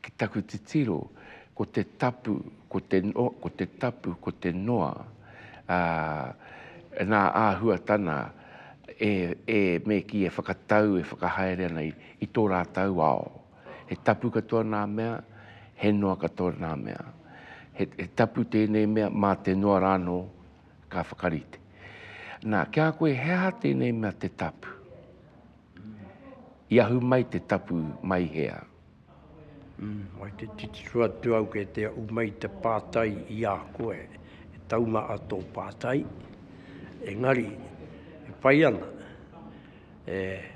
Ki taku titiro, ko te tapu, ko te, ko te tapu, ko te noa, ā, nā āhuatana e, e, me kī, e whakatau, e whakahaere ana i, i tō rātou ao. He tapu katoa nā mea, he noa katoa nā mea. He, he tapu tēnei mea, mā te noa rānō ka whakarite. Nā, ki a koe, he aha tēnei mea te tapu? I ahu mai te tapu mai hea. Mai te titiro atu au kei te ahu mai te pātai i a koe, e taunga a tō pātai, engari e pai ana,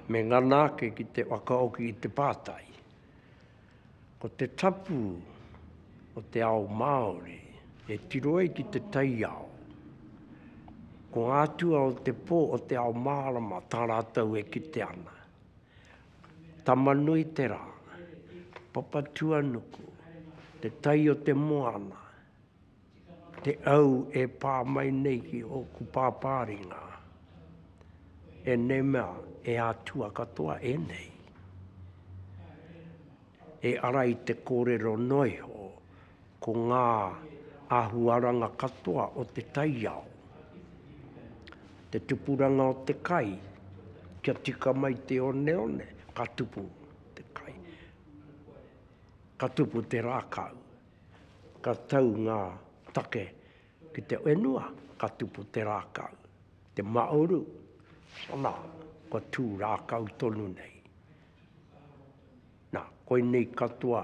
me ngana ake ki te whakaoki i te pātai. Ko te tapu o te ao Māori e tiro ai ki te taiao. Ko ngā atua o te pō o te ao mārama tā rātou e kite ana. Tamanui te rā, Papatuanuku, te tai o te moana, te au e pā mai nei ki ōku pāpā ringa, ēnei mea, e Atua katoa ēnei, e ara i te kōrero noa iho, ko ngā āhuaranga katoa o te taiao, te tupuranga o te kai, kia tika mai te oneone, ka tupu te kai, ka tupu te rākau. Ka tau ngā take ki te whenua, ka tupu te rākau. Te māuru, anā, kua tū rākau tonu nei. Nā, koinei katoa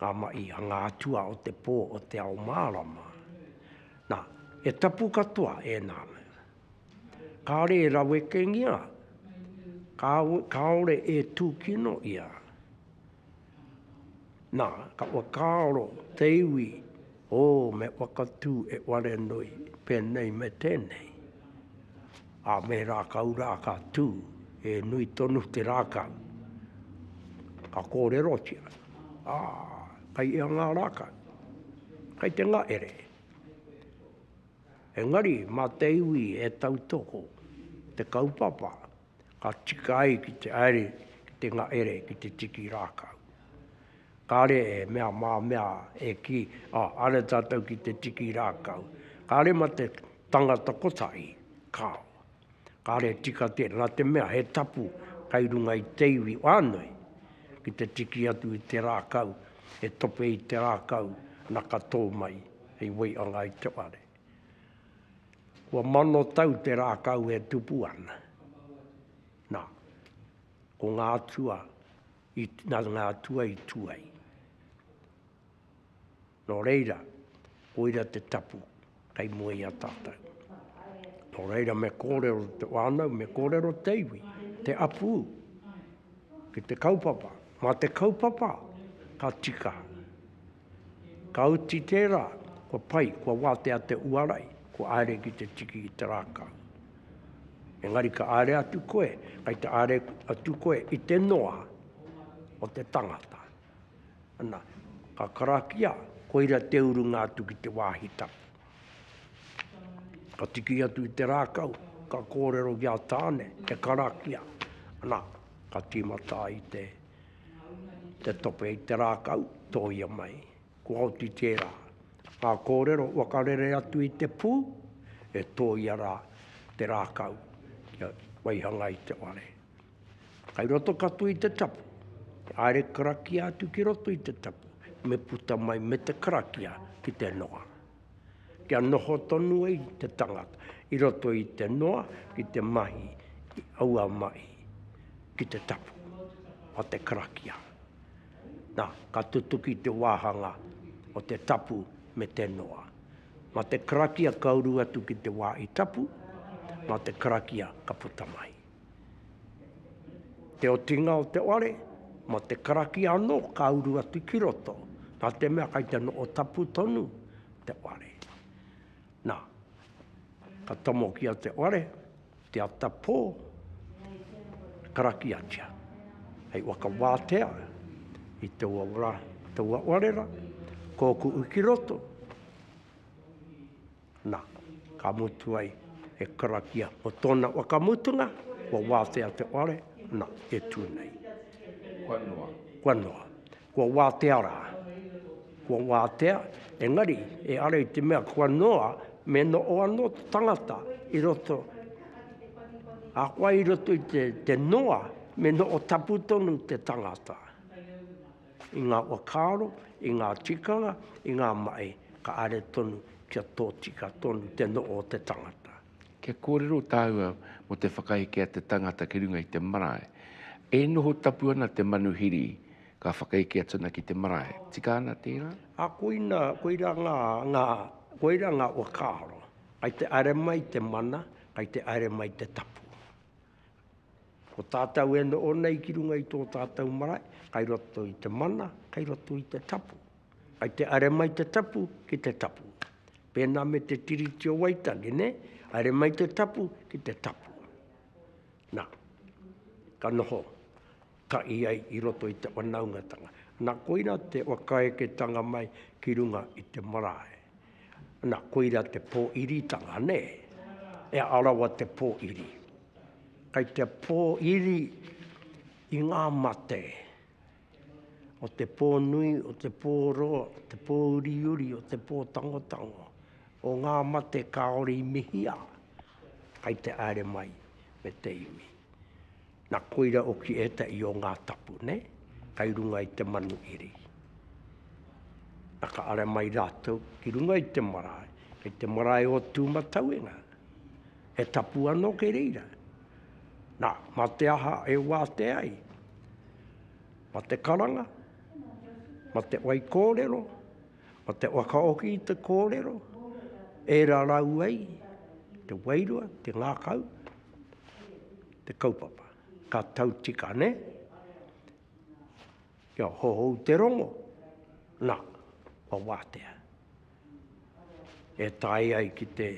ngā mahi a ngā atua o te pō o Te Ao Mārama. Nā, he tapu katoa ēnā. Kāore e rawekengia, kāore e tūkino ia. Na, ka whakaaro te iwi, O, me whakatū e Warenoi, pēnei me tēnei. A me rākau rā ka tū, he nui tonu te rākau. Ka kōrerotia, Ā, kai ia ngā rākau? Kai te ngahere. Engari, mā te iwi e tautoko te kaupapa. ka tika ai ki te aere ki te ngaere ki te tiki rākau. Kāre e mea mā mea e kī, ā, are tātou ki te tiki rākau. Kāre mā te tangata kotahi, kāo. Kāre e tika tērā, nā te mea he tapu kai runga i te iwi whānui ki te tiki atu i te rākau, e tope i te rākau, nā ka tō mai hei waianga i te whare. Kua mano tau te rākau e tupu ana. Nā, ko ngā atua, i, nā ngā atua i tū ai. Nō reira, koira te tapu kei mua i a tātou. Nō reira me kōrero te whānau, me kōrero te iwi, te apū, ki te kaupapa. Mā te kaupapa ka tika. Ka uti tērā, kua pai, kua wātea te uarai, kua āre ki te tiki i te rākau. Engari ka āre atu koe, kai te āre atu koe i te noa o te tangata. Ana, ka karakia, koira te urunga atu ki te wāhi tapu. Ka tiki atu i te rākau, ka kōrero ki a Tāne, e karakia. Ana, ka tīmata ai te... Te tope i te rākau, tōia mai. Kua oti tērā. Ngā kōrero waka rere atu i te pū, e tōia rā te rākau kia waihanga i te ware. Kai roto katoa i te tapu, te aere karakia atu ki roto i te tapu, me puta mai me te karakia ki te noa. kia noho tonu ai te tangata i roto i te noa ki te mahi i aua mahi ki te tapu o te karakia. Na, ka tutuki te wāhanga o te tapu me te noa. Ma te karakia ka uru atu ki te wā i tapu, ma te karakia ka puta mai. Te otinga o te ware, mo te karakia ano ka uru atu ki roto, na te mea kai te noo tapu tonu te ware. Na, ka tomokia te ware, te ata po, karakiatia. Hei whakawātea i taua wara, taua ware ra, koku'u ki roto. Na, ka mutu ai he karakia o tona wakamutunga, kua watea te whare, na, e tu nei. Kua noa. Kua noa. Kua watea ra. Kua watea, engari, e ara i te mea kua noa, me noo ano te tangata i roto, ahakoa i roto i te, te noa, me noo tapu tonu te tangata. I ngā whakaaro, i ngā tikanga, i ngā mahi, ka are tonu kia tōtika tonu te noho o te tangata. Kia kōrero tāua mō te whakaeke a te tangata ki runga i te marae. E noho tapu ana te manuhiri, ka whakaeke atu ana ki te marae. Tika ana tērā? Ā, koina, koirā ngā, ngā, koirā ngā whakaaro. Kai te haere mai te mana, kai te haere mai te tapu. Ko tātou e noho nei ki runga i tō tātou marae, kai roto i te mana, kai roto i te tapu. Kai te are mai te tapu ki te tapu. Pēnā me te Tiriti o Waitangi, ne? Are mai te tapu ki te tapu. Nā, ka noho. tahi ai i roto i te whanaungatanga. Na, koira te whakaeketanga mai ki runga i te marae. Na, koira te pōiritanga, nē? E arawa te pōiri. Kei te pōiri i ngā mate o te pō nui, o te pō roa, o te pō uriuri, o te pō tangotango, o ngā mate kāore i mihia, kei te aere mai me te iwi. Na koira oki etahi o nga tapu nei kai runga i te manu iri. Na ka ara mai ratou ki runga i te marae, kei te marae o Tumatauenga. He tapu ano kei reira. Na, ma te aha e wate ai? Ma te karanga, ma te wai korero, ma te whakaoki i te korero, e rarau ai te wairua, te ngakau, te kaupapa. Ka tau tika, ne? Kia hohou te rongo, na, kua wātea. E tae ai ki te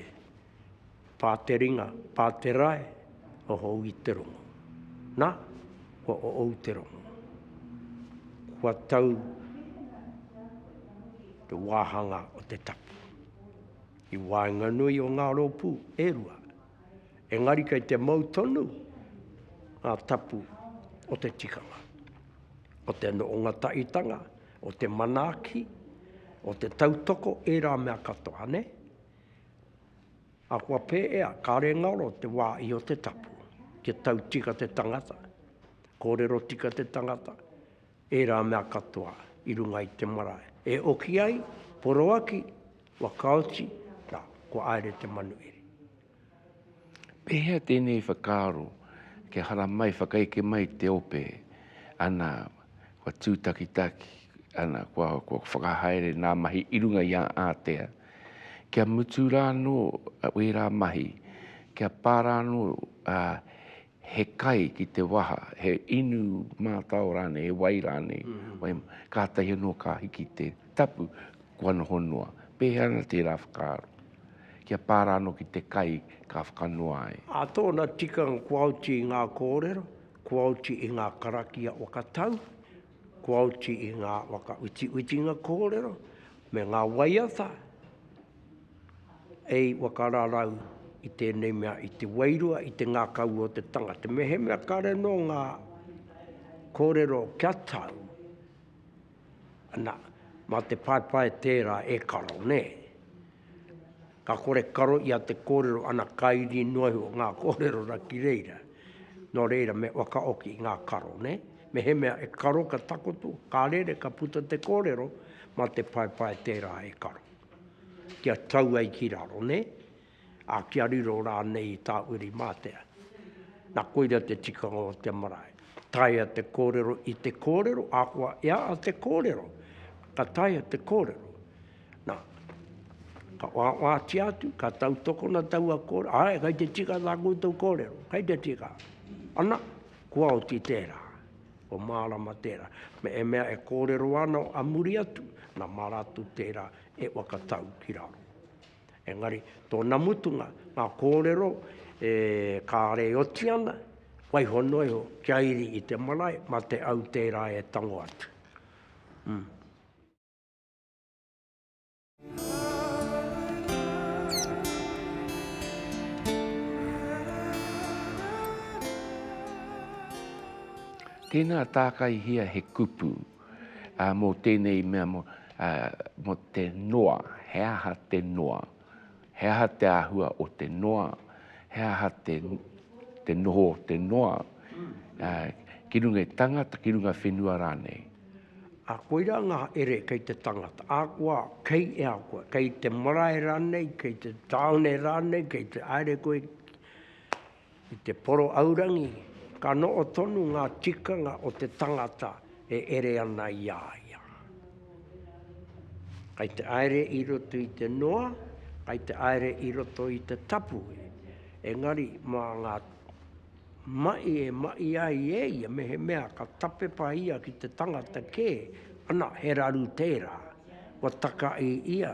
pāteringa, pāterae, hohou i te rongo. Na, kua oou te rongo. Kua tau te wāhanga o te tapu. I waenganui o ngā rōpū e rua, engari kei te mau tonu ngā tapu o te tikanga, o te noonga taitanga, o te manaaki, o te tautoko, ērā mea katoa, ne? Ahakoa pēea, kāre ngaro te wā i o te tapu, kia tau tika te tangata, kōrero tika te tangata, Ērā mea katoa i runga i te marae e oki ai, poroaki, wakaoti, na, kua aere te manuhiri. Pehea tenei whakaaro kia haramai whakaeke mai te ope, ana, kua tutakitaki, ana, kua whakahaere nā mahi i runga i a ātea, kia mutu rānō wērā mahi, kia pā rānō he kai ki te waha, he inu mātao rānei, he wai rānei, wai, kātahi anō ka hiki te tapu, kua noho noa. Pēhea ana tērā whakaaro? Kia pā rānō ki te kai ka whakanoa ai. Ā tōna tikanga kua oti i ngā kōrero, kua oti i ngā karakia waka tau, kua oti i ngā waka utiutinga kōrero, me ngā waiata, e i whakararau i tēnei mea, i te wairua, i te ngākaua o te tangata. Mehemea kare nō ngā kōrero kia tau, ana, mā te paepae tērā e karo, nē. Ka kore karo ia te kōrero, ana, ka iri noa iho ngā kōrero ra ki reira. Nō reira, me whakaoki ngā karo, nē. Mehemea e karo ka takoto, ka rere, ka puta te kōrero, mā te paepae tērā e karo. kia tau ai ki raro, ne? A kia riro rānei i tā uri mātea. Na koira te tikanga o te marae. Taea te kōrero i te kōrero, ahakoa e a a te kōrero, ka taea te kōrero. Na, ka wāwātia atu, ka tautokona taua kōrero, āe, kai te tika tā koutou kōrero, kai te tika. Ana, kua oti tērā. Ko Mārama tērā. Me e mea e kōrero ana a muri atu, nā Maratu tērā e waka tau ki raro. Engari, tōna mutunga, ngā kōrero e kāre e oti ana, waiho noa iho, kia iri i te marae, mā te au tērā e tango atu. Mm. Tēnā tākaihia he kupu mō tēnei mea, mō te noa, he aha te noa, he aha te āhua o te noa, he aha te noho o te noa ki runga i tangata, ki runga whenua rānei. Ā, koirā ngā ere kei te tangata, ahakoa kei e a koe, kei te marae rānei, kei te tāone rānei, kei te haere koe ki te poro aurangi, ka noho tonu ngā tikanga o te tangata e ere ana i a ia. Kei te haere i roto i te noa, kei te haere i roto i te tapu, engari mā ngā. Maʻi e maʻi ai e ia mehemea ka tapepa ia ki te tangata kē, ana, he raru tērā. Kua takaʻi ia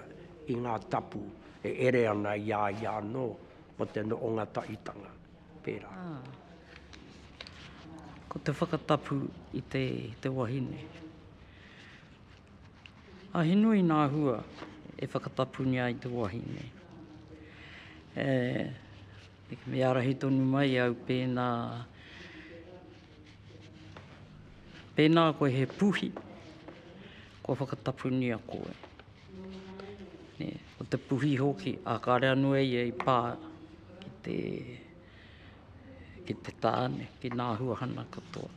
i ngā tapu e ere ana i a ia anō mō te noʻonga taʻitanga, pērā. Ko te whakatapu i te wahine. A he nui nā hua e whakatapungia ai te wahine. E. Me ārahi tonu mai au pēnā, pēnā koe he puhi, kua whakatapunia koe. Nē, ko te puhi hoki, ā, kāre anō e ia i pā ki te, ki te tāne, ki nā huahana katoa.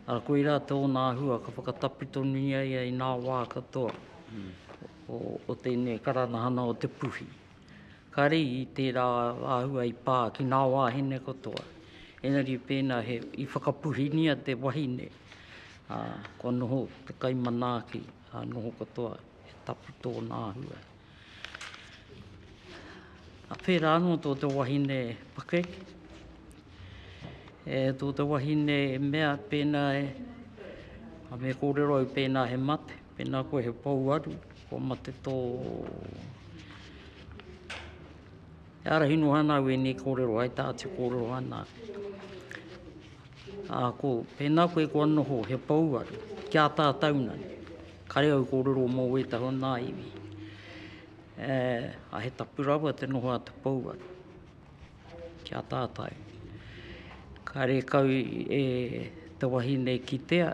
Arā, koirā tōna āhua, ka whakatapu tonuia ia i nā wā katoa o, o tēnei karanahana o te puhi. Kare i tērā āhua i pā ki nā wāhine katoa. Engari pēnā he, i whakapuhingia te wahine, ā, kua noho te kai manaaki, ā, noho katoa, he tapu tōna āhua. Ā pērā anō tō te wahine pakeke, e, tō te wahine e mea pēnā e, me kōrero au pēnā he mate. Pēnā koe he pouaru, kua mate tō... E ārahi noa ana au ēnei kōrero ai tā te kōrero ana. Ā, ko, pēnā koe kua noho he pouaru, ki a tātou nei, kare au kōrero mō wētahi o nā iwi. E, a he tapu rawa te noho a te pouaru. Kia tātai. Kāre kau e te wahine kitea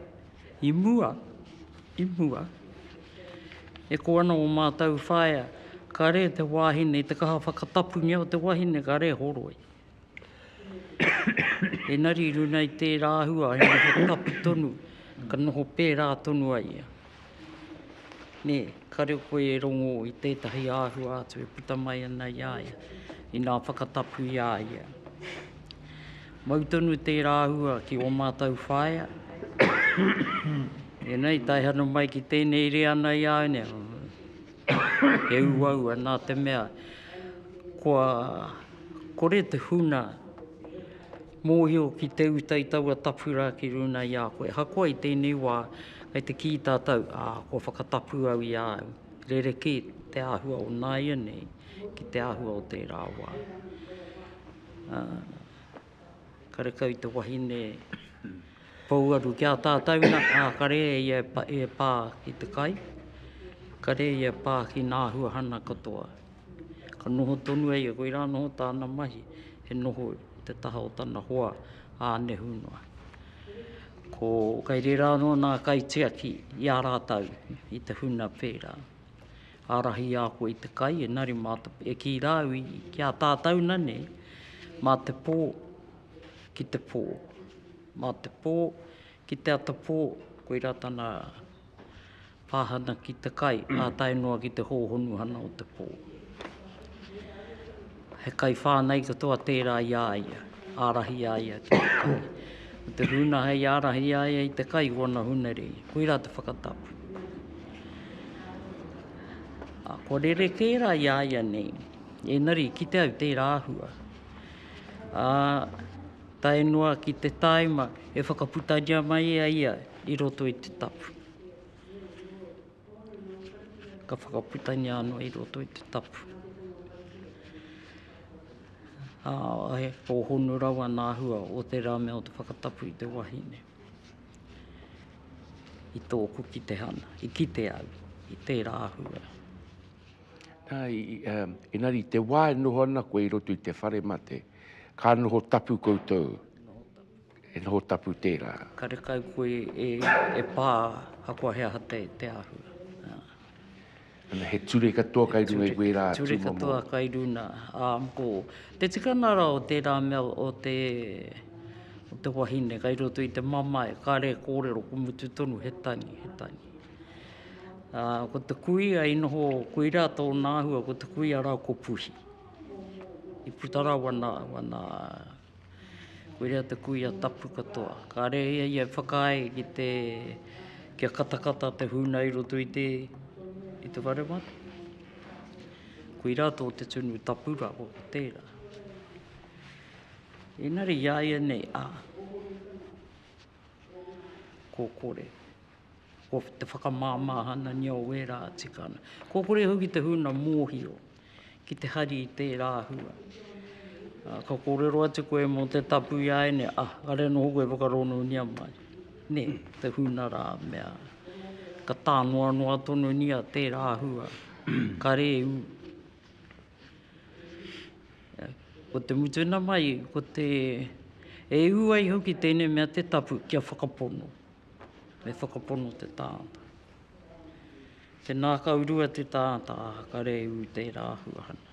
i mua, i mua. E ko ana o mātou whaea, kāre te wāhine, te kaha whakatapungia o te wahine, kāre e horoi. Engari i runei tērā āhua he noho tapu tonu, ka noho pērā tonu ai ia. Nē, ka reo koe e rongō i tētahi āhua atu e puta mai ana i a ia, inā whakatapu i a ia. Mau tonu tērā āhua ki ō mātou whaea. Ēnei, taihana mai ki tēnei rea nei āu nei, he uaua nā te mea kua kore te huna Mōhio ki te uta i taua tapu rā ki runa i a koe. Ahakoa i tēnei wā, kei te kī tātou, ā, kua whakatapu au i a au. Rerekē te āhua o nāianei ki te āhua o tērā wā. Ā, karekau i te wahine pouaru ki a tātou nā, ā, kare e ia e pā ki te kai, kare ia e pā ki nā āhuahana katoa. Ka noho tonu e ia, koirā noho tāna mahi, he noho i te taha o tana hoa a Anehunua. Ko, kai rērā anō nā kaitiaki i a rātau i te huna pērā. Ārahi a koe i te kai, engari mā te, e kī rāu i, ki a tātau nanei, mā te pō ki te pō. Mā te pō ki te ata pō, koirā tana Pāhana ki te kai, ā tae noa ki te hōhonuhana o te pō. He kaiwhānau katoa tērā i a ia, ārahi a ia ki te kai. Ko te huna hei ārahi i a ia i te kai, ko ana hunere, koirā te whakatapu. Ā, kua rerekē rā i a ia nei, engari kite au tērā āhua. Ā, tae noa ki te tāima e whakaputaria mai e ia i roto i te tapu. Ka whakaputania anō i roto i te tapu. Ā, e pōhonu rawa nā hua o te rā me o te whakatapu i te wahine. I tōku ki te hana, i ki te au, i tērā hua. Nā, i, um, engari te wā e noho ana koe i roto i te whare mate, ka noho tapu koutou. he noho tapu tērā. Karekau koe e pā, ahakoa he aha te āhua. Ana, he ture katoa kai runga i wērā tūmomo. Ture katoa kai runa. Ko te tikana rā o tērā mea o te wahine kai roto i te mamae, kāre e kōrero ko mutu tonu he tangi, he tangi. Ko te kuia i noho, koirā tōna āhua, ko te kuia rā ko Puhi. I puta rā wana Koia te kuia tapu katoa. Kāre ia ia e whakaae ki te kia katakata te huna i roto i te i te whare mara. Koira tō te tunu tapu rā o tērā. Inari ia ia nei, a. Ko kore. Ko te whakamāmāhanangia o wērā tikana. Ko kore hoki te huna mōhio ki te hari i tērā hua. Uh, ka kōrero atu koe mō te tapu i aene, ah, kare noho koe whakaronunia mai. Ne, te huna rā mea. Ka tānoanoa tonu ni a tērā hua. Kare u. Ko te mutunga mai, ko te, e ū ai hoki tēnei mea te tapu kia whakapono, me whakapono te tāngata. Te nākaurua te tāngata, ā, ka rēū tērā āhuahana.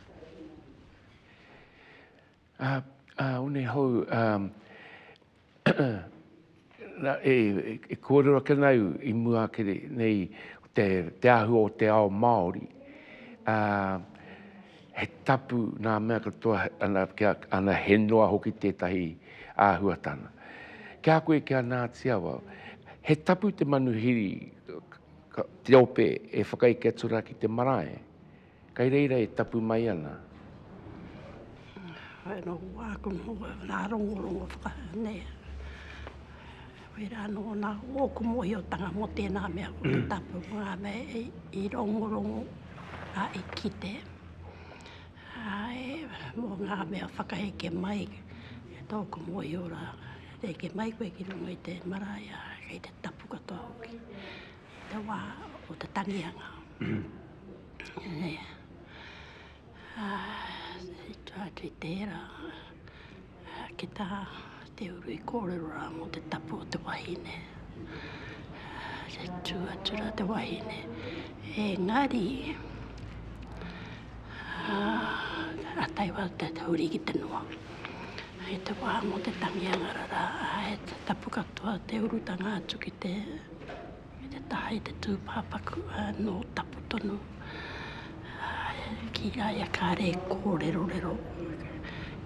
Ā, ā, one hou, ā, nā, e, e kōrero ake ana au i mua ake nei o te, te āhua o te ao Māori, ā, he tapu nā mea katoa, ana, kia, ana, he noa hoki tētahi āhuatana. Ki a koe, ki a Ngāti Awa, he tapu te manuhiri, ka, te ope e whakaeke atu rā ki te marae, Kai reira e tapu mai ana. Hai anō wā ko ngā rongorongo whakahau nei. Whai rā anō nā ōku mōhiotanga mō tēnā mea ko te tapu ko ngā mea i rongorongo a i kite. Hai mō ngā mea whakaheke mai e tōku mōhio rā. Heke mai koe ki runga i te marae a kei te tapu katoa hoki. Te wā o te tangihanga. Atu i tērā, ki tā te uru i kōrero rā mō te tapu o te wahine, te tū atu rā te wahine. Engari, ka tae wau te huri ki te noa. Hei te wā mō te tangihanga rarā, he tapu katoa te urutanga atu ki te. Me te taha i te tūpāpaku nō tapu tonu ki a ia kāre e kōrerorero,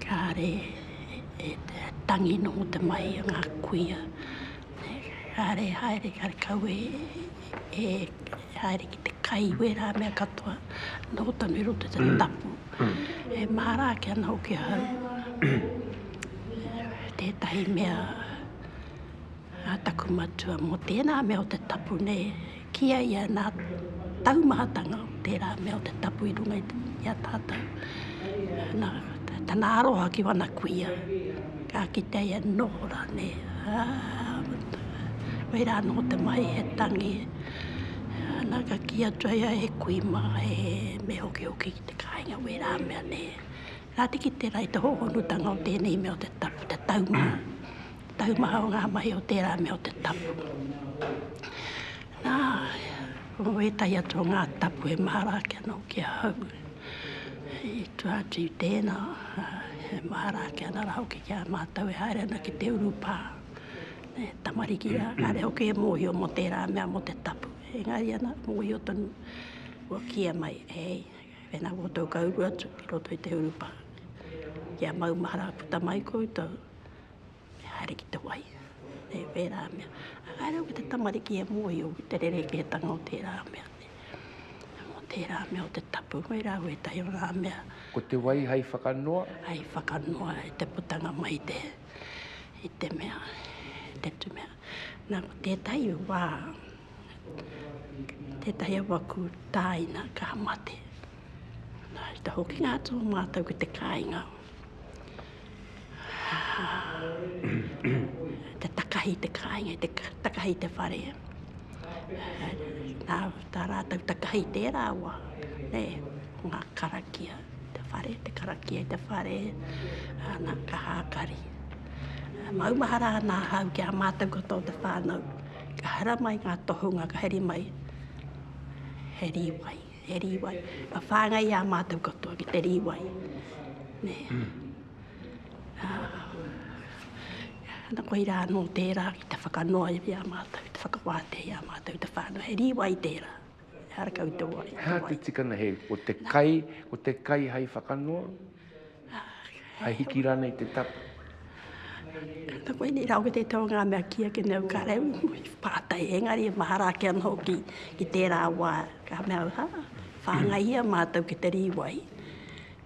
kāre e tangi nō te mahi o ngā kuia, kāre e haere, kāre kau e haere ki te kai i wērā mea katoa nō tonu i roto i te tapu. E māra ake ana hoki ahau tētahi mea. Nā taku matua mō tērā mea o te tapu nei, kī ai ia nā taumahatanga o tērā mea o te tapu i runga i a tātou. Nā, tana aroha ki wana kuia, ka kitea ia noho rānei, ā, whai rā noho te mahi he tangi, nā ka kī atu ai ia he kui mā, he me hokihoki ki te kāinga o ērā mea nei. Nā te kite rā i te hōhonutanga o tēnei mea o te tapu, te taumaha. taumaha o ngā mahi o tērā mea o te tapu. Nā, ko wētahi atu o ngā tapu he mahara ake anō ki ahau. I tua atu i tēnā, he mahara ake ana rā hoki ki a mātou e haere ana ki te urupā. E tamariki rā, kāre hoki e mōhio mō tērā mea mō te tapu. Engari ana, mōhio tonu, kua kīia mai, hei, wēnā koutou ka uru atu ki roto i te urupā, kia maumahara puta mai koutou. E haere ki te wai, e wērā mea. Ā, haere au ki te tamariki e mōhio ki te rerekētanga o tērā mea, o tērā mea, o te tapu, koirā au ētahi o ngā mea. Ko te wai hai whakanoa? Hai whakanoa i te putanga mai i te, i te mea, i te tu mea. Nā, ko tētahi wā, tētahi a waku tāina ka mate. Nā, i te hokinga atu o mātou ki te kāinga, te takahi i te kāinga, te takahi i te whare. Nā, tā rātou takahi i tērā wa, nē, ko ngā karakia, te whare, te karakia i te whare, ana, ka hākari. Maumahara ana hau ki a mātou katoa te whānau, ka hara mai ngā tohunga, ka heri mai, he rīwai. He rīwai. Ka whāngai i a mātou katoa ki te rīwai. Nē. Ana koe rā anō tērā ki te whakanoa i a mātou, te whakawātea i a mātou, te whānau. He rīwai tērā. Ehara kau te wai. He aha te tikanga he, ko te kai, ko te kai hai whakanoa? Hai hiki ranei te tapu. Tata koe nei rau te tau ngā mea kia ke nau ka rau mui pātai engari e mahara ake anō ki, ki tērā wā ka mea au ha whāngaihia mātou ki te rīwai,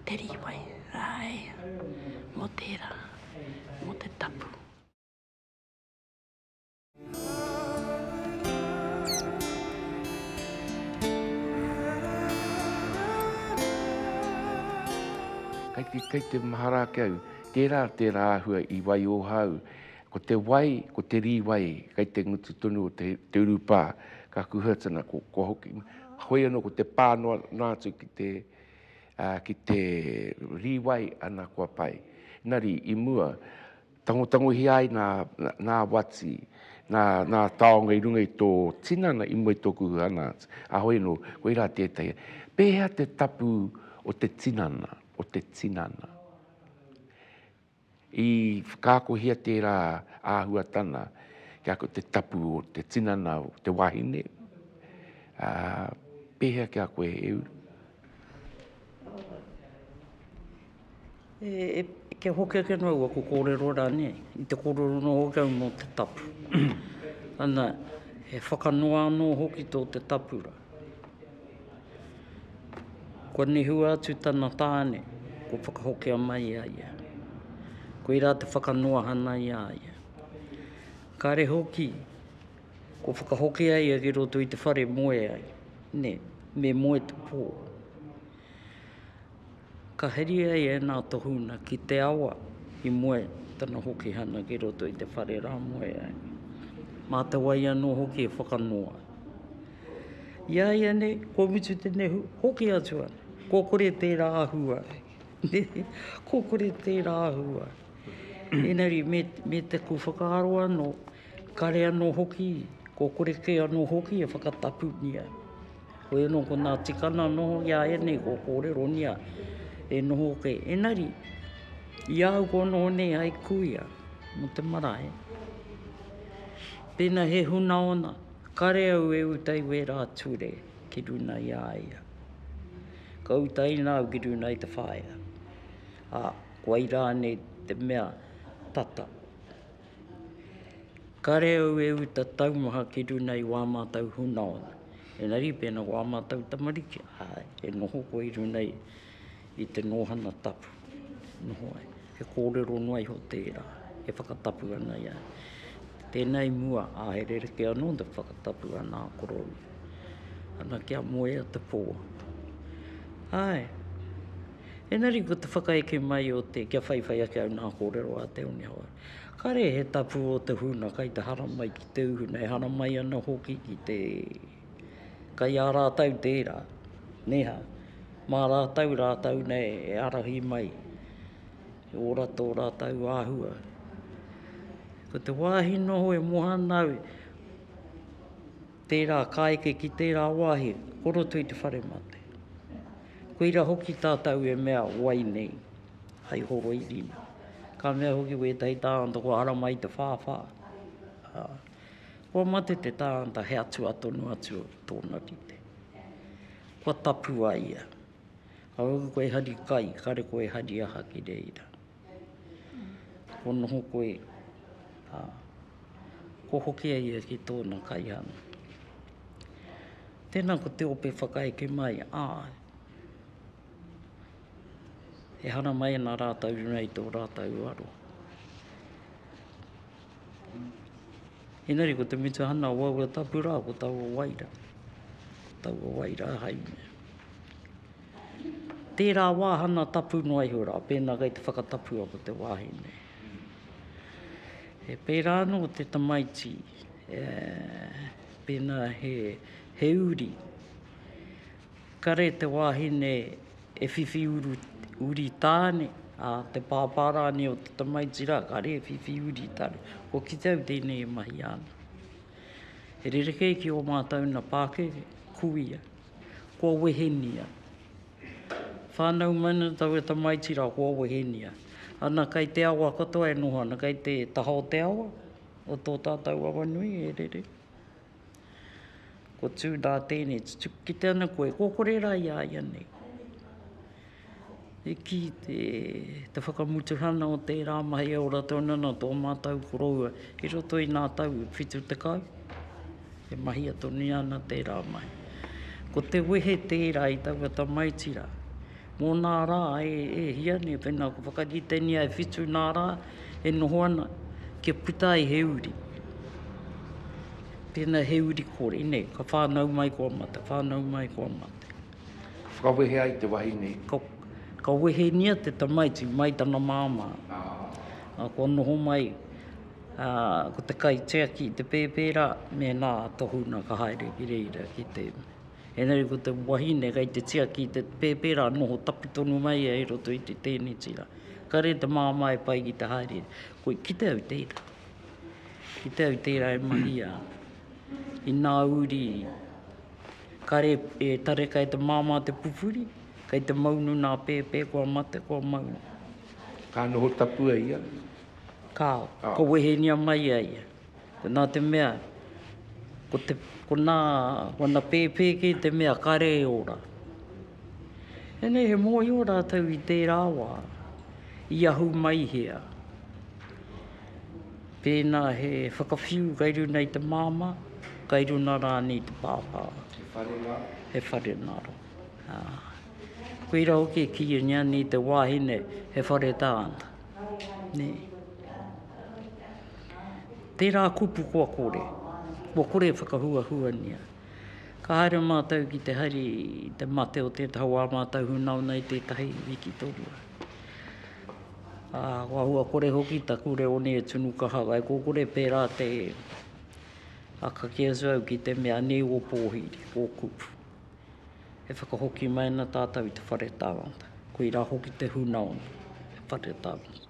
te rīwai āe mō tērā, mō te tapu. Kei te, kei te mahara ake au, tērā, tērā āhua i waioha au. Ko te wai, ko te rīwai, kei te ngutu tonu o te, te urupā, ka kuhua tana, ko, kua hoki, hoi anō ko te pā noa, noa atu ki te, ā, ki te rīwai, ana kua pai. Engari, i mua, Tangotangohia ai ngā, ngā wati, ngā, ngā taonga i runga i tō tinana i mua i tōku hana atu. Ahoi anō, koirā tētahi. Pēhea te tapu o te tinana, o te tinana? I whakaakohia tērā āhuatana kia koe te tapu o te tinana o te wahine. Ā, pēhea ki a koe, he uru? E, kia hoki ake noa ua ko kōrero rā nei, i te kōrero noa hoki au mō te tapu. Ana, he whakanoa anō hoki tō te tapu rā. Kua nehua atu tana tāne, kua whakahokia mai a ia. Koirā te whakanoahana i a ia. Kāre hoki, kua whakahokia ia ki roto i te whare moe ai, nē, me moe te pō. Ka heri ai ēnā tohunga ki te awa i moe tana hokihana ki roto i te whare rā moe ai. Mā te wai anō hoki e whakanoa. I a ia nei, kua mutu te nehu, hoki atu ana. Kua kore tērā ahua. Kua kore tērā ahua. Engari me, me te ku whakaaro anō, Kare anō hoki, kua kore kē anō hoki e whakatapunia. Koia nō ko nā tikana noho i a ia nei, kua kōreronia e noho kē. Enari, i ahau kua noho nei hai kuia mo te marae, pēnā he huna ona, kare au e uta i wērā ture ki runa i a ia. Ka utaina au ki runa i te whaea, ā, kua i rānei te mea tata. Kare au e uta taumaha ki runa i wā mātou hunaona. Engari pēnā wā mātou tamariki, āe, e noho koe i runa i, i te nōhana tapu. Noho ai. He kōrero noa iho tērā, e whakatapu ana i a au. Tēnā i mua, ā, he rerekē anō te whakatapu a nā koroua. Ana kia moea te pō. Āe. Engari ko te whakaeke mai o te, kia whaiwhai ake au nā kōrero a Te One Hau. Kare he tapu o te huna kai te hara mai ki te uhuna, e hara mai ana hoki ki te, kai a rātau tērā, neha, mā rātau rātau nei e arahi mai, e ora tō rātau āhua. Ko te wāhi noho e moha ana au, Tērā ka eke ki tērā wāhi, ko roto i te whare mate. Koira hoki tātou e mea wai nei, hai horoirina. Ka mea hoki wētahi tāngata kua ara mai te whāwhā. Kua mate te tāngata he atua tonu atu tōna rite. Kua tapu a ia. Ka hoki koe hari kai, kare koe hari aha ki reira. Kua noho koe, ā, kua hoki a ia ki tōna kaiārahi. Tēnā ko te ope whakaeke mai, ā, e haramai ana rātou i runga i tō rātou aroha. Engari ko te mutuhana o aua tapu rā ko taua wai rā, taua wai rā haere. Tērā wāhanga tapu noa iho rā, pēnā kei te whakatapua ko te wāhi nei. He pērā anō te tamaiti, pēnā he, he uri, kare te wāhine e whiwhi uru, uri tāne, ā, te pāpā rānei o te tamaiti rā, kare e whiwhi uri tāne. Hoki tau tēnei e mahia ana. He rerekē ki ō mātou nā Pākehē, kuia. Kua wehengia. Whānau mai ana taua tamaiti rā, kua wehengia. Ana kai te awa katoa e noho ana, kai te taha o te awa, o tō tātou awa nui e rere. Kua tū nā tēnei, tutuki kite ana koe, kua kore rā i a ia nei. E kī te te whakamutuhana o tērā mahi e ora tonu ana tō mātou koroua i roto i nā tau e 70, e mahia tonuia ana tērā mahi. Ko te wehe tērā i taua tamaiti rā, mō nā rā e hia nei pēnā ka whakaritengia e whitu nā rā e noho ana, kia puta ai he uri. Tēnā he uri kore nei, ka whānau mai kua mate, whānau mai kua mate. Ka whakawehe ai te wahine. Ka, ka wehengia te tamaiti mai tana māmā. Ā, kua noho mai, ā, ko te kaitiaki i te pēpērā, mēnā tohunga ka haere ki reira ki te. Engari ko te wahine kei te tiaki i te pēpērā, noho tapu tonu mai ia i roto i te tēneti rā. Ka rere te māmā e pai ki te haere. Koi, kite au tērā. Kite au tērā e mahi ā. Inā uri. Kare e tareka e te māmā te pupuri, kei te maunu nā pēpē kua mate, kua maunu. Ka noho tapu e ia? Kāo, ka wehenia mai a ia. Nā te mea, ko te, ko nā, ko ana pēpē kē te mea kare e ora. Ēnei he mōhio rātou i tērā wā, i ahu mai hea. Pēnā he whakawhiu kai runa i te māmā, kai runa rānei i te pāpā. He whare ngā roa. He whare ngā roa. Koira hoki e kīia ngia nei te wāhine he whare tāna. Nē. Tērā kupu kua kore. Kua kore e whakahuahuania. Ka haere mātou ki te hari te mate o tētahi wā mātou hunauna i tētahi wiki tōrua. Ā, kua hua kore hoki taku reo nei e tunu kaha ai, ko kore pērā te a ka kī atu au ki te mea nei o pōhiri, o kupu. E whakahoki mai ana tātou i te whare tāngata, koirā hoki te hunaoni, te whare tāngata.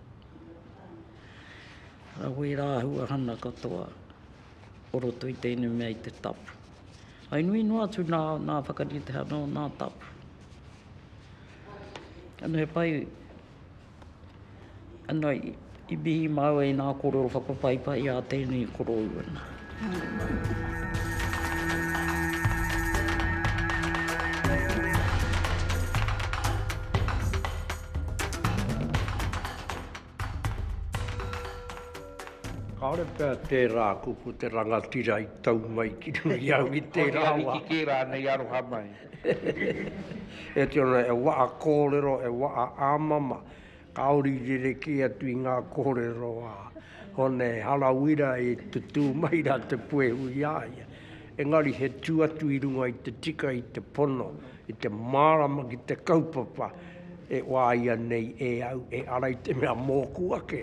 Arā koe rā ahua hana katoa o roto i tēnei mea i te tapu. Whai nui noa atu nā, nā whakarite ana o nā tapu. Ano he pai, ano i mihi mau ai nga korero whakapaipai a tenei koroua na. Kaore pea tera kupu te rangatira i tau mai ki runga i au i tera wa. Ko te ariki ke ranei aroha mai. E tino ana, e wa'a kōrero, e wa'a āmama, kāore i rerekē atu i ngā kōrero a Hone Harawira i tutū mai rā te puehu i a ia. Engari he tū atu i runga i te tika, i te pono, i te mārama ki te kaupapa e wāia nei e au, e ara i te mea mōku ake,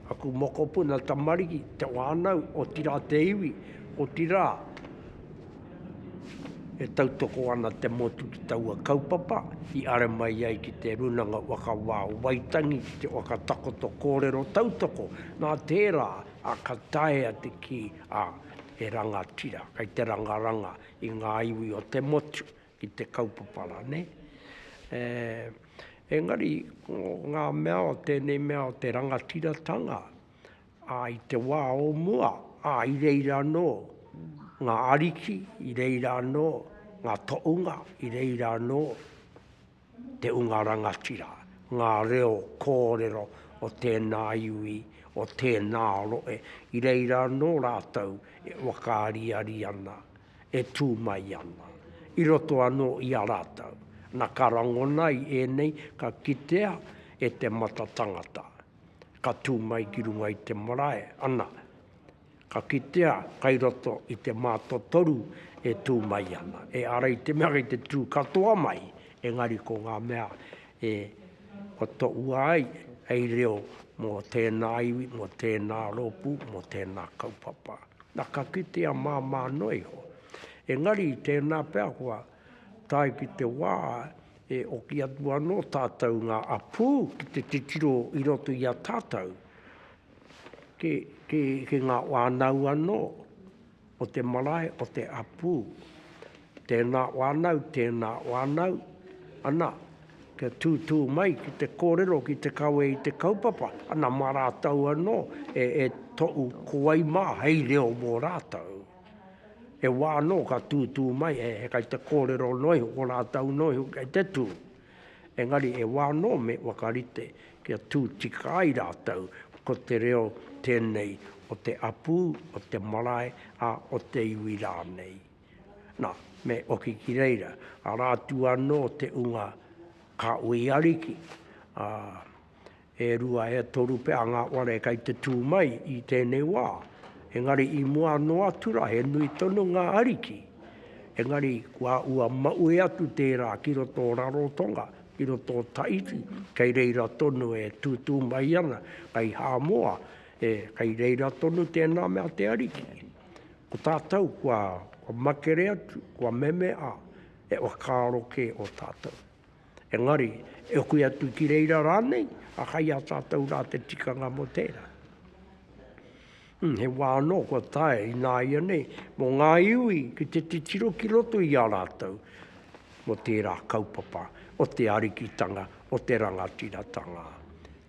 aku mokopuna tamariki, te whānau, otirā te iwi, otirā. E tautoko ana te motu ki taua kaupapa i are mai ai ki te Runanga Waka Wā o Waitangi ki te waka takoto kōrero tautoko, nā tērā a ka taea te kī a he rangatira kei te rangaranga i ngā iwi o te motu ki te kaupapa rā, nē? E, engari ko ngā mea o tēnei mea o te rangatiratanga, Ā, i te wā o mua, ā, i reira anō ngā ariki, i reira anō ngā toʻunga, i reira anō te unga rangatira, ngā reo kōrero o tēnā iwi, o tēnā rohe, i reira anō rātou e whakaariari ana, e tū mai ana, i roto anō i a rātou. Na, ka rangona i ēnei, ka kitea e te mata tangata, ka tū mai ki runga i te marae, ana, ka kitea kai roto i te mātotoru e tū mai ana. E ara i te mea kei te tū katoa mai, engari ko ngā mea e totoua ai, hei reo mō tēnā iwi, mō tēnā rōpū, mō tēnā kaupapa. Na, ka kitea māmā noa iho. Engari i tēnā pea kua Tae ki te wā e oki atu anō tātou ngā apū ki te titiro i roto i a tātou, ki ngā whānau anō o te marae o te apū. Tēnā whānau, tēnā whānau, ana, kia tūtū mai ki te kōrero, ki te kawe i te kaupapa, ana, mā rātou anō e tohu ko wai mā hei reo mō rātou. He wā anō ka tūtū mai, he kai te kōrero noa iho, ko rātou noa iho kei te tū. Engari he wā anō me whakarite kia tū tika ai rātou ko te reo tēnei o te apū, o te marae, ā, o te iwi rānei. Nā, me oki ki reira, arā atu anō te unga Kāhui Ariki, ā, e rua, e toru pea ngā whare kei te tū mai i tēnei wā, engari i mua noa atu rā he nui tonu ngā ariki, engari kua ua maui atu tērā ki roto o Rarotonga, ki roto o Tahiti, kei reira tonu e tūtū mai ana, kei Hāmoa, e, kei reira tonu tēnā mea te ariki. Ko tātou kua, kua makere atu, kua meme, ā, he whakaaro kē ō tātou. Engari, e hokui atu ki reira rānei, a kai a tātou rā te tikanga mō tērā. Hmm, he wā anō kua tae i nāia nei, mō ngā iwi ki te titiro ki roto i a rātou, mō tērā kaupapa o te arikitanga, o te rangatiratanga.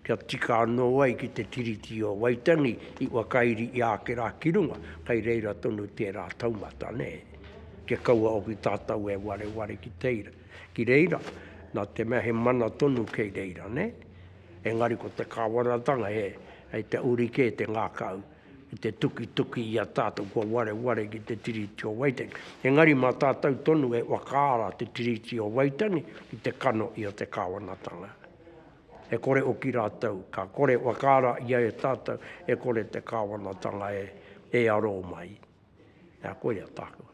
Kia tika anō ai ki te Tiriti o Waitangi i whakairi i āke rā ki runga, kai reira tonu tērā taumata, nē. Kia kaua hoki tātou e wareware ki teira. ki reira, nā te mea he mana tonu kei reira, nē. Engari ko te Kāwanatanga he, hei te uri kē te ngākau, ki te tukituki i a tātou kua wareware ki te Tiriti o Waitangi. Engari mā tātou tonu e whakaara te Tiriti o Waitangi ki te kano i a te Kāwanatanga. E kore hoki rātou, ka kore whakaara ia e tātou, e kore te Kāwanatanga e, e aro mai. Nā, koia tāku.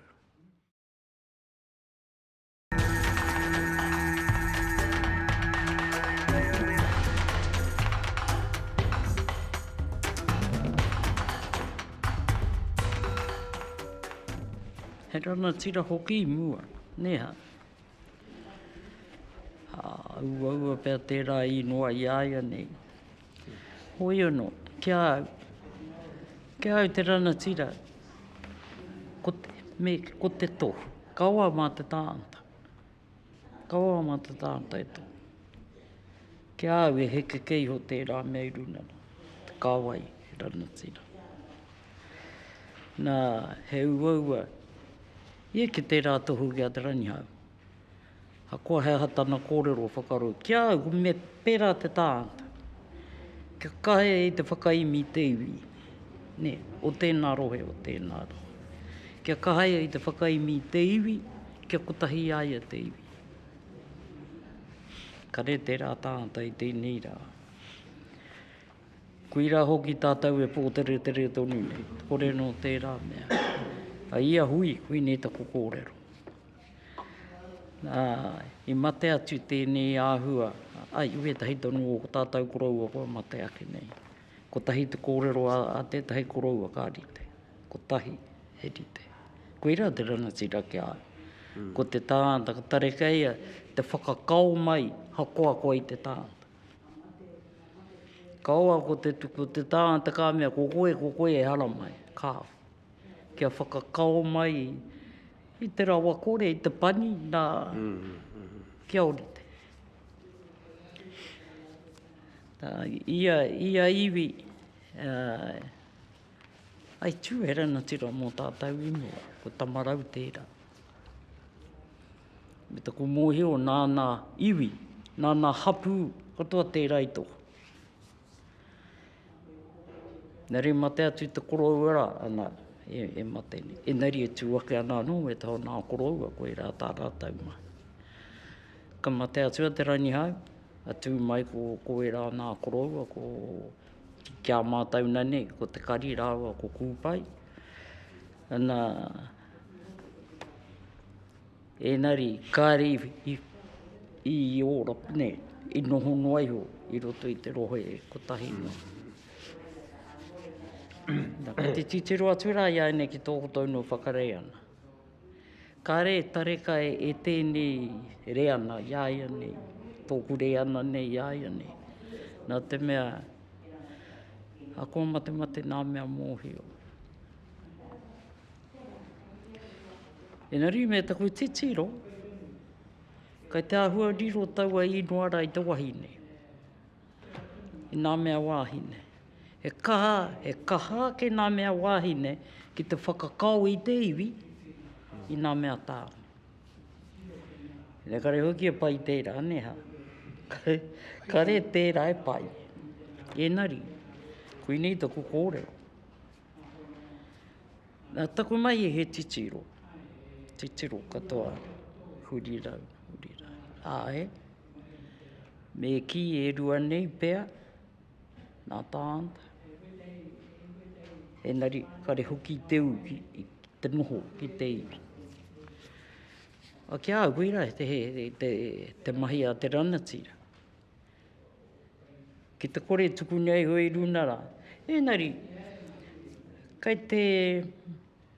He rangatira hoki i mua, nē hā? Ā, uaua pea tērā i noa i a ia nei. Hoiono, Ki a au. Ki a au te ranatira, ko te, me, ko te to. Kaua ma te taanta. Kaua ma te taanta e to. Ki a au e heke kē iho tērā mea i runa rā, te kāwai he ranatira. Na, he uaua, ia ki tērā tohu ki a Te Rangihau. Ahakoa he aha tana kōrero whakarau ki a au, me pērā te tāngata, kia kahe i te whakaemi i te iwi, nē, o tēnā rohe, o tēnā rohe. Kia kahe i te whakaemi i te iwi, kia kotahi i a ia te iwi. Kare tērā tāngata i tēnei rā. Koirā hoki tātou e pōteretere tonu nei, kore nō tērā mea. A ia hui, koinei taku kōrero. Ā, i mate atu tēnei āhua, ā, i wētahi tonu o ko tātou koroua kua mate ake nei. Kotahi te kōrero a tētahi koroua ka rite, kotahi he rite. Koirā te rangatira ki a au. Ko te tāngata ka tarekeia te whakakao mai hakoakoa i te tāngata. Kaua ko te tuku o te tāngata ka mea ko koe, ko koe e haramai, kāo. Kia whakakao mai. I te rawakore, i te pani, nā, kia orite. Nā, ia, ia iwi, ā, i tū he rangatira mō tātou i mua, ko Tamarau tērā. Me taku mōhio nāna iwi, nāna hapū katoa tērā i toha. Engari i mate atu te koroua rā, ana, e, e mate nei. Engari e tū ake ana anō e te ao nā koroua, koirā tā rātou mahi. Ka mate atu a Te Rangihau, ka tū mai ko, ko ērā nā koroua, ko, ki a mātou na nei, ko Te Kari rāua ko Kūpai, ana, Ēnari, kāre i, i Ōropa nei, i noho noa iho i roto i te rohe kotahi noa. Na, kei te titiro atu rā i āinei ki tō kotou nō whakarei ana. Kāre e tareka e, e tēnei reana i āia nei, tōku reana nei i āia nei. Nā te mea, a kō mate mate nā mea mōhio. Engari me taku titiro, kei te āhua riro taua īngoa rā i te wahine, i ngā mea wāhine. He kaha, he kaha ake ngā mea wāhine ki te whakakao i te iwi i ngā mea tāone. Engari hoki e pai tērā, nē hā? Kare tērā e pai. Engari, koinei taku kōrero. Nā taku mahi he titiro, titiro katoa, hurirau, hurirau, āe. Me kī e rua nei pea, nā Tānta, engari kare hoki i te ū i te noho ki te iwi. A kia au koirā he te mahi a te rangatira. Ki te kore tuku nei au i runa rā. Ēngari, kei te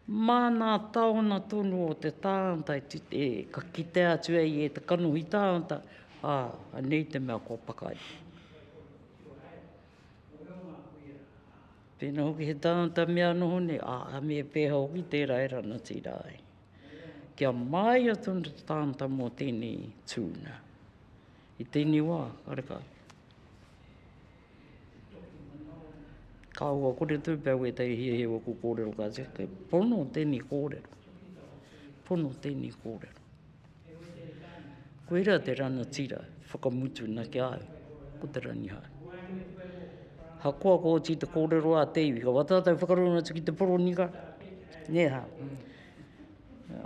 māna taona tonu o te tāngata ka kitea atu e ia te kanohi tāngata, ā, anei te mea kua pakari. Pēnā hoki he tāngata mea noho nei, ā, me pēhea hoki tērā e rangatira tira ai. Kia māia tonu te tāngata mō tēnei tūnga. I tēnei wā, kareka. Ka ua kore tū pia wētai hiahia o ku kōrero ka tia, kei pono tēnei kōrero. Pono tēnei kōrero. Koira te rana tira, whakamutu na ki au, ko te ranihau. Ha koa ko oti te kōrero a te iwi, ka watatau whakarunga atu ki te poronika, nē ha. Mm.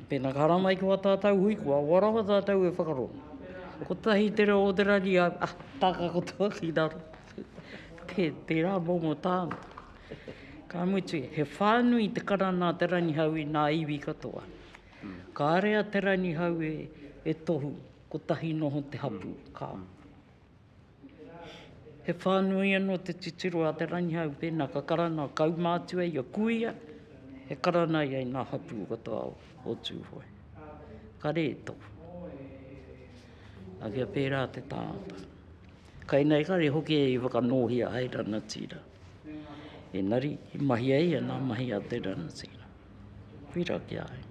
Pēnā ka rā mai ki wā tātau hui, kua roa rawa tātau e whakarongo. Kotahi te reo o te rari, a, taka katoa ki raro. Te, tērā momo tāna. Ka mutu, he whānui te karana a Te Rangihau i nā iwi katoa. Kāre a Te Rangihau e, e tohu, kotahi noho te hapū. Ka. He whānui anō te titiro a Te Rangihau pēnā ka karanga a kaumātua i a Kuia, e karanga ai ngā hapū o tō ao o Tūhoe. Ka rē tonu. A kia pērā te tāngata. Kainei kare hoki e i whakanōhia hai rangatira. Engari, i mahi ai ana mahi a te rangatira. Pira ki a au.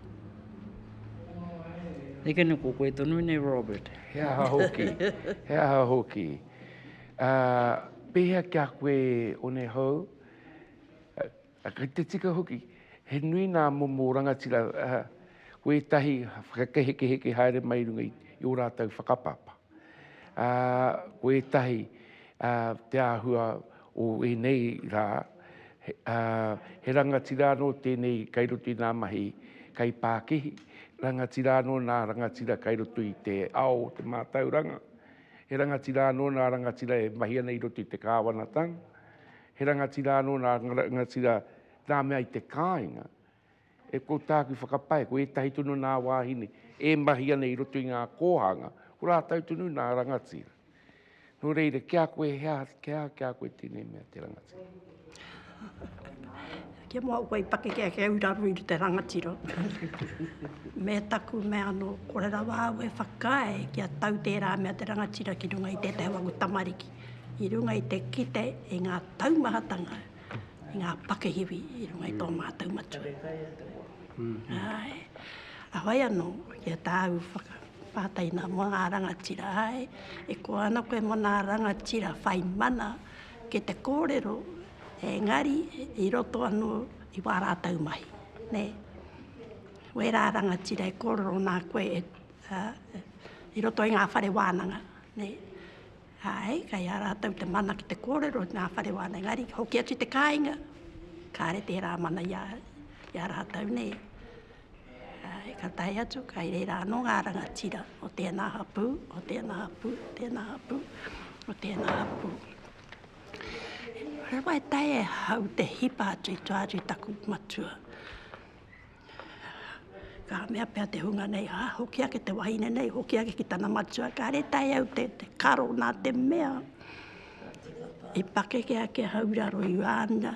Nei kē nei ko koe tonu nei Robert. He aha hoki, he aha hoki. Uh, pēhea ki a koe o nei hou? Uh, kei te tika hoki, he nui nā momo rangatira uh, wētahi whakakehekeheke haere mai runga i, i o rātou whakapapa. Ā, ko ētahi, ā, te āhua o ēnei rā, he, ā, he rangatira anō tēnei kei roto i ngā mahi kaipākihi, rangatira anō nā rangatira kei roto i te ao o te mātauranga, he rangatira anō nā rangatira e mahi ana i roto i te kāwanatanga, he rangatira anō nā rangatira nā mea i te kāinga. E kou tāku whakapae, ko ētahi tonu nā wāhine e mahi ana i roto i ngā kōhanga, ko rātou tonu nā rangatira. Nō reira, ki a koe he aha, he aha ki a koe tēnei mea te rangatira? Kia mau koe i pakeke he urarua i te rangatira. Me taku mea anō, kore rawa au e whakaae kia tau tērā mea te rangatira ki runga i tētahi o aku tamariki, i runga i te kite i ngā taumahatanga i ngā pakihiwi i runga i tō mātou matua. Kare kai a te hoa. Āe. A whai anō, ki a tāu whakapātaina mō ngā rangatira, āe, e koa ana koe mō ngā rangatira whai mana ki te kōrero, engari i roto anō i wā rātou mahi, nē. Wērā rangatira e kōrero nā koe i roto i ngā whare wānanga, nē. Āe, kei a rātou te mana ki te kōrero i ngā whare wāna, engari, hoki atu te kāinga, kāre tērā mana i a, i a rātou nei. Āe, ka tae atu, kai reira anō ngā rangatira, o tēnā hapū, o tēnā hapū, o tēnā hapū, o tēnā hapū. Rawa e tae e hau te hipa atu i tua atu i taku matua. Ka mea pea te hunga nei, ah, hoki ake te wahine nei, hoki ake ki tana matua, ka re tae au te, te karo nā te mea. I pakeke ake a Hauraro i wāna,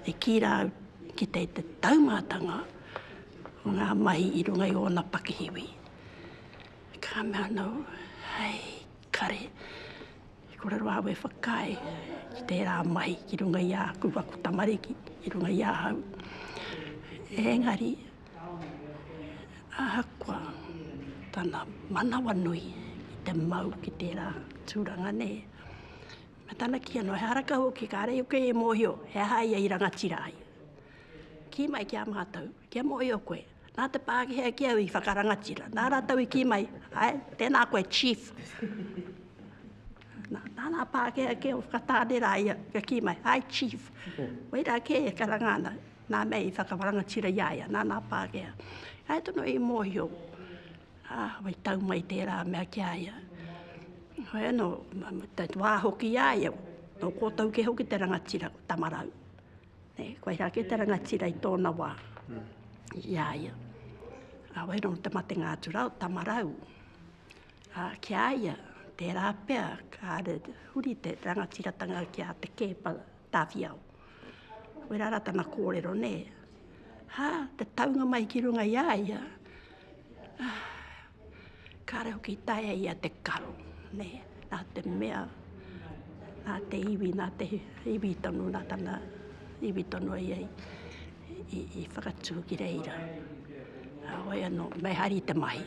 i kī rā au ki te, te taumātanga o ngā mahi i runga i ōna pakihiwi. Ka mea nō, hei, kare, I kōrero au e whakaae ki tērā mahi ki runga i āku ako tamariki, ki runga i ahau. Engari, ahakoa tana manawanui ki te mau ki tērā tūranga nē, me tana kī anō, he aha rakau hoki kāre au kei e mōhio he aha ia i rangatira ai. Kī mai ki a mātou, kia mōhio koe, Nā te Pākehā ki au i whakarangatira, nā rātou i kī mai, hai, tēnā koe chief. Nā, nā, nā Pākehā ki au whakatāne rā ia, kia kī mai, hai chief. Wai rā kē e karanga ana, nā mei i whakarangatira i a ia, nā, nā Pākehā. Hai tono i mōhio, ah, wai tau mai tērā mea ki a ia. Hoi anō, te wā hoki i a ia, nō kōtou kē hoki te rangatira, ko Tamarau. He koirā kē te rangatira i tōna wā, i a ia. Ā, wai rā te matenga atu rā o Tamarau. Ā, ki a ia, tērā pea kāre huri te rangatiratanga ki a Te Keepa Tawhiao. Wai rā rā tana kōrero, nē. Hā, te taunga mai ki runga i a ia, Kāre hoki i taea ia te karo, nē, nā te mea, nā te iwi, nā te iwi tonu, nā tana iwi tonu ia i whakatū ki reira. Heoi anō, me hari te mahi,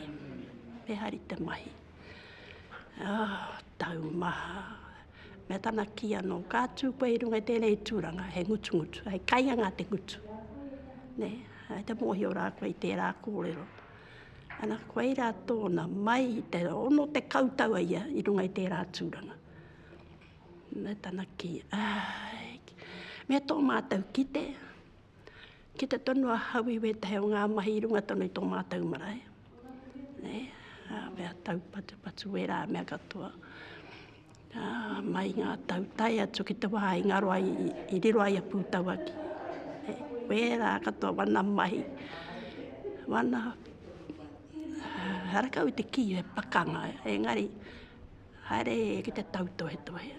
me hari te mahi. Taumaha, me tana kī anō, ka tū koe i runga i tēnei tūranga, he ngutungutu, hei kainga ngā te ngutu, nē, hei te mōhio rā koe i tērā kōrero. Ana, koirā tōna, mai i te 60 tau a ia i runga i tērā tūranga. Nā tana kī, āi, me tō mātou kite, kite tonu ahau i wētahi o ngā mahi i runga tonu i tō mātou marae. Nei, ā, mea taupatupatu wērā mea katoa. Ā, mai ngā tau tae atu ki te wā i ngaro ai, i riro ai a Pūtauaki. He wērā katoa wana mahi, wana harakau i te kī, he pakanga, engari haere ki te tautohetohe.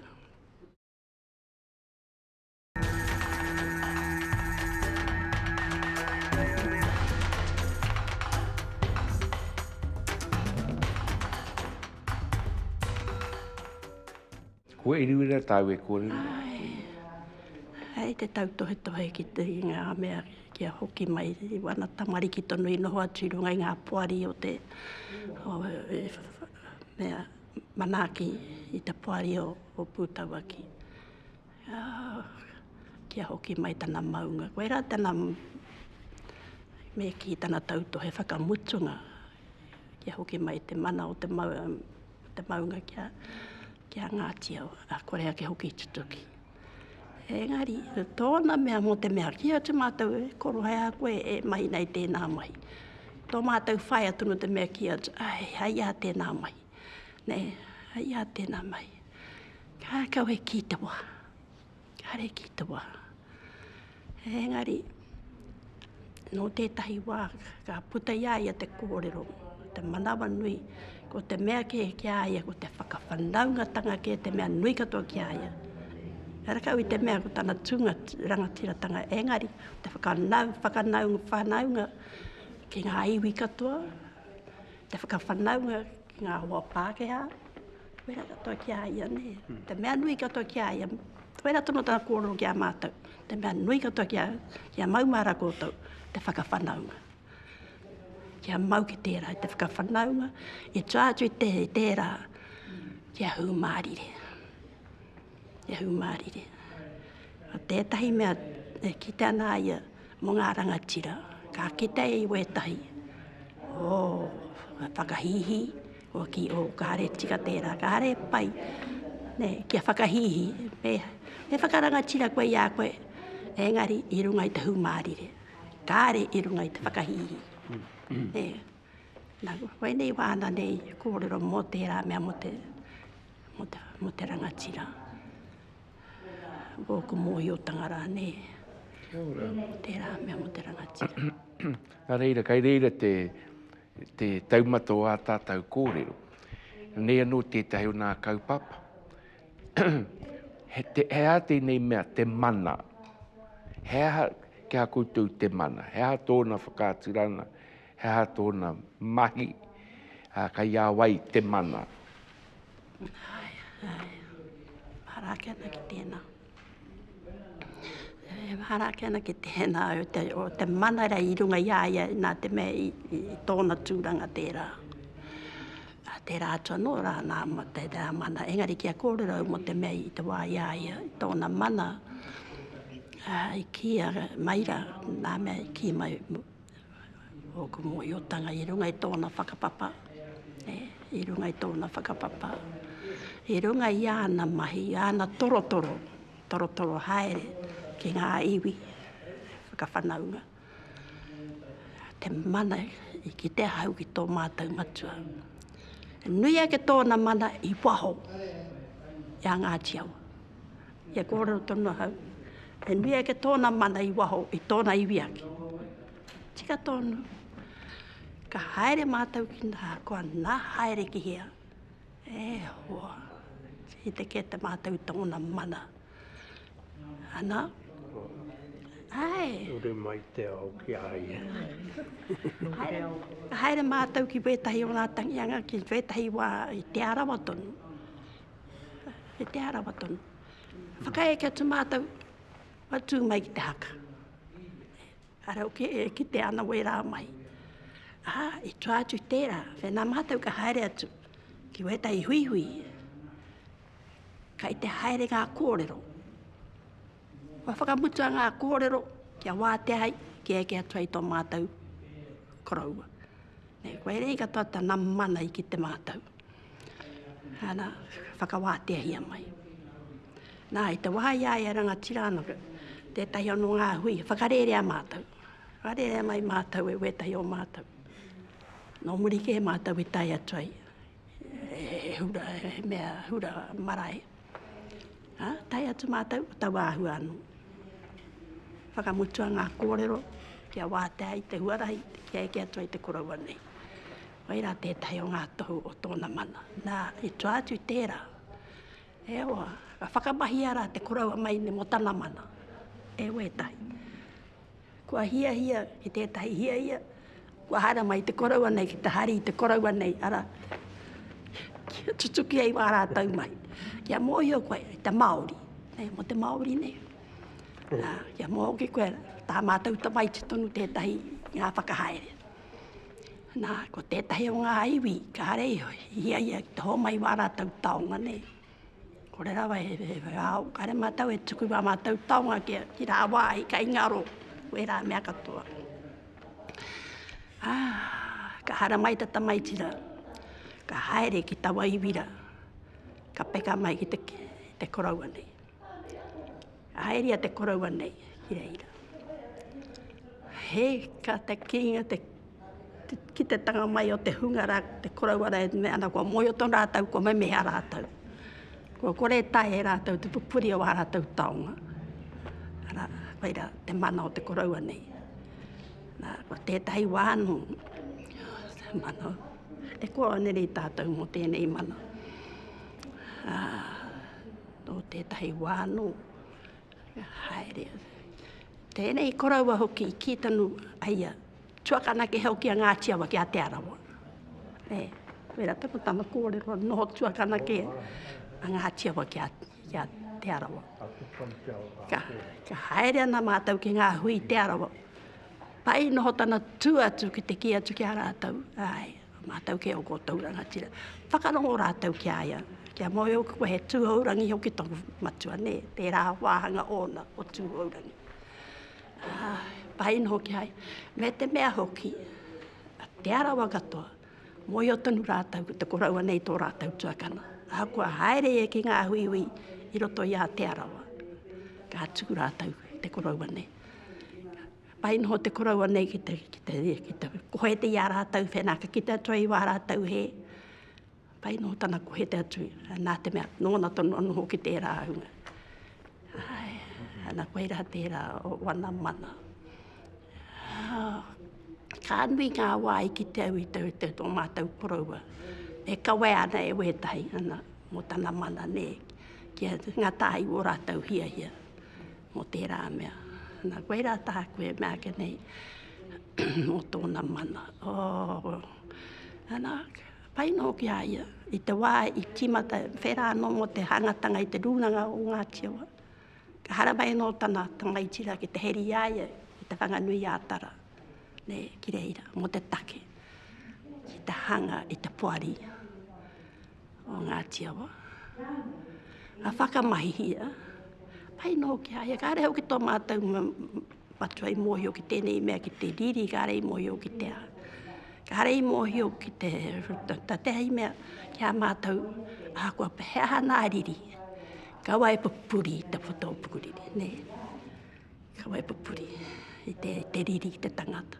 Kua iriwira tāu e kōrero? Ai, hei te tautohetohe ki te i ngā mea kia hoki mai i wana tamariki tonu i noho atu i runga i ngā poari o te o, e, mea manaaki i te poari o, o Pūtauaki. Kia hoki mai tana maunga. Koirā tana me kī tana tautohe whakamutunga. Kia hoki mai te mana o te maunga ki a Ngāti Awa, a kore ake hoki i tutuki. Engari, tōna mea mō te mea, kī atu mātou e korohea koe e mahi nei tēnā mahi. Tō mātou whaea tonu te mea kī atu, ai, hai a tēnā mahi. Nei, hai a tēnā mahi. Ka kawe ki te wā. Ka re ki te wā. Engari, nō tētahi wā, ka puta i a ia te kōrero, te manawa nui, ko te mea kē ki a ia, ko te whakawhanaungatanga kē, te mea nui katoa ki a ia. He rakau i te mea ko tana tūnga rangatiratanga, engari, te whakanau, whakanau, whanaunga ki ngā iwi katoa, te whakawhanaunga Ki ngā hoa Pākehā, wera katoa ki a ia, nē. Mm. Te mea nui katoa ki a ia, wera tono tā kōrero ki a mātou. Te mea nui katoa ki a, ki a maumāra kōtou, te whakawhanaunga. Ki a mau ki tērā, te whakawhanaunga, i tōātu i te, tērā, ki a hūmārire. Ki a hūmārire. Tētahi mea, e ki te ana ia, Mo nga rangatira ka kite i wetahi o nga whakahihi o ki o kare tika tera, kare pai ne kia whakahihi me he whakarangatira koe i a koe engari i runga i te humarire kare i runga i te whakahihi. E na wenei wana nei korero mo tera mea mo te mo te rangatira. ōku mōhiotanga rānei, mō tērā mea, mō te rangatira. Nā reira, kai reira te, te taumata o ā tātou kōrero. Nei anō tētahi o nā kaupapa. he, te, he aha tēnei mea, te mana? He aha kia koutou te mana? He aha tōna whakaaturanga? He aha tōna mahi? Kai a wai te mana? Mahara ake ana ki tēnā. E mahara ake ana ki tēnā o te, o te mana rei i runga i a ia, nā te mea i, i, i tōna tūranga tērā. A tērā atu anō rā, nā ma te rā mana, engari kia kōrero mō te mea i te wā i a ia, i tōna mana, a, i kīa mai rā, nā mea i kī mai, Ōku mōhiotanga i runga i tōna whakapapa, i runga i tōna whakapapa, i runga i āna mahi, i āna torotoro, torotoro haere ki ngā iwi whakawhanaunga, te mana i kite ahau ki tō mātou matua. Nui ake tōna mana i waho i a Ngāti Awa. He kōrero tonu ahau, he nui ake tōna mana i waho i tōna iwi ake. Tika tonu, ka haere mātou ki nā, kua nā haere ki hea. E hoa, i te kē te mātou tōna mana. Ana, ai. Ure mai te ao ki a ia. haere, haere mātou ki wētahi o ngā tangianga, ki wētahi wā i Te Arawa tonu. E Te Arawa tonu. Whakaeke atu mātou, wa tū mai ki te haka. Arau ke, e, ki te ana wērā mai. Aha, i tū atu tērā, whenā mātou ka haere atu ki wētai huihui. Kai te haere ngā kōrero. Wa whakamutua ngā kōrero kia wātea hai, kia eke atu hai tō mātou koroua. Nei, koe rei katoa tana mana i ki te mātou. Ana, whakawāteahia mai. Nā, i te wā i a ia rangatira anō, tētahi anō ngā hui, whakarērea mātou. Whakarērea mai mātou e wētahi o mātou. Nō muri kē mātou i tae atu ai, he hura, he mea hura marae. Ha, tae atu mātou, tau āhua anō. Whakamutua ngā kōrero, kia wātea i te huarahi, kia eke atu ai te koroua nei. Whai rā tētahi o ngā tohu o tōna mana. Nā, i tua atu i tērā, e hoa, ka whakamahia rā te koroua maine mō tana mana. E hoa ētahi. Kua hiahia ki tētahi hiahia, kua haere mai te koroua nei ki te hari i te koroua nei, ara, kia tutuki ai wā rātou mahi. Kia mōhio koe, i te Māori, nei, mō te Māori nei. Nā, kia mōhio ki koe, tā mātou tamaiti tonu tētahi ngā whakahaere. Nā, ko tētahi o ngā iwi, kāre i hiahia ki te hōmai wā rātou taonga nei. Kore rawa he, he, he ao, kāre mātou e tuku wā mātou taonga ki, ki rā wā i kai ngaro, wē rā mea katoa. Ā, ka hara mai ta tamaiti rā, ka haere ki tawa iwi rā, ka peka mai ki te, te koroua nei. Haeria te koroua nei ki reira. He ka te kinga te ki te tanga mai o te hunga rā, te koroua rā e me ana kua moio tonu rātou, kua memeha rātou. Kua kore e tae e rātou te pupuri o ā rātou taonga. Ara, whai rā, te mana o te koroua nei. Nā, kua tētahi wā anō, te mana, e kua anerei tātou mō tēnei mana. Ā, Nō tētahi wā anō, ka haere a. Tēnei koroua hoki i kī tonu ai a tuakana ki hau ki a Ngāti Awa, ki a Te Arawa. E, wera tonu tana kōrero, noho tuakana ki a Ngāti Awa ki a, ki a Te Arawa. Ka, ka haere ana mātou ki ngā hui Te Arawa. Pai noho tana tū atu ki te kī atu ki a rātou, āe, Mātou kē o koutou rangatira. Whakarongo rātou ki a ia, kia moe hoki koe he tūhourangi hoki tōku matua, nē, tērā wāhanga ōna o tūhourangi. Ā, pai noa hoki ai, me te mea hoki, a Te Arawa katoa, mōhio tonu rātou ko te koroua nei tō rātou tuakana. Ahakoa haere ia ki ngā huihui i roto i a Te Arawa, ka tū rātou te koroua nei. Pai noho te koroua nei ki te, ki te, ki te kohete i a rātou whenaka, ki te atua i wā rātou he. Pai noho tana kohete atu, nā te mea, nōna tonu a noho ki tērā ahunga. Ai, ana koe rā tērā o wana mana. Ah, ka nui ngā wāi ki te au i te, te tō mātou koroua. E kawe ana e wētahi ana, mō tana mana, nē, kia ngā tāi wō rātou hiahia. mō tērā mea. Nā, koe rā taha koe, mea ake nei, mō tōna mana. Oh. Ana, pai nō ki a ia, i te wā i tīmata, whērā anō mō te hangatanga i te rūnanga o Ngāti Awa. Ka harawai anō tana tangaitira ki te heri i a ia, i te Whanganui a Tara, ne, ki reira, mō te take, i te hanga, i te poari. o Ngāti Awa, a whakamahihia, pai nō ki aia, kāre hau ki tō mātou matua i mōhio ki tēnei mea ki te riri, kāre i mōhio ki te āta. Kāre i mōhio ki te tatea i mea ki a mātou a kua pehea hana a riri. Kawa e pupuri te whatō pukuriri, nē. Kawa e pupuri i te, te riri, te tangata.